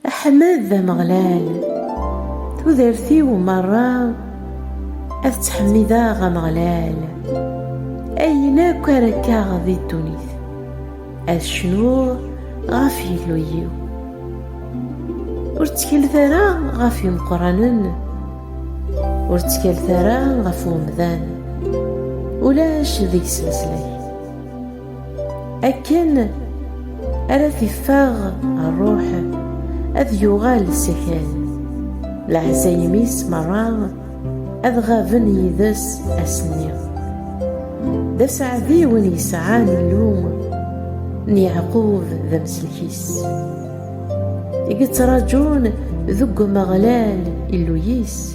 Ḥmed Ameɣlal, tudert-iw merra ad ttḥemmideɣ Ameɣlal, ayen akk ara kkeɣ di ddunit, ad cnuɣ ɣef Yillu-yiw. Ur ttkalet ara ɣef imeqqranen, ur ttkalet ara ɣef umdan, ulac deg-s leslak. akken ara t-iffeɣ ṛṛuḥ ad yuɣal s akal leɛzayem-is merra ad ɣaben yid-s ass-nni d aseɛdi win yesɛan Illu n Yeɛqub d amsellek-is i yettraǧun deg Umeɣlal Illu-is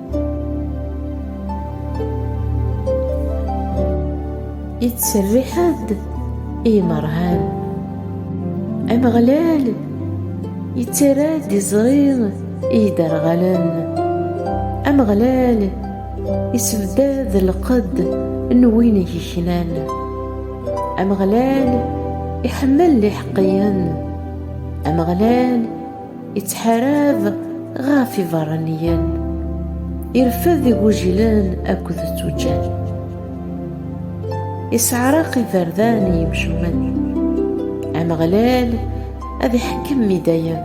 Ittserriḥ-d i yimerhan. Ameɣlal ittarra-d iẓri i yiderɣalen. Ameɣlal isebdad lqedd n win i yeknan. Ameɣlal iḥemmel iḥeqqiyen. Ameɣlal Ittḥarab ɣef iberraniyen, irfed igujilen akked tuǧǧal. Isseɛraq iberdan i yimcumen. Ameɣlal ad iḥekkem i dayem.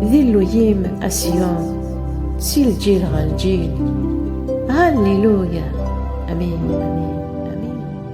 D Illu-yim, a Siyun, si lǧil ɣer lǧil. Halliluya! Amin, amin.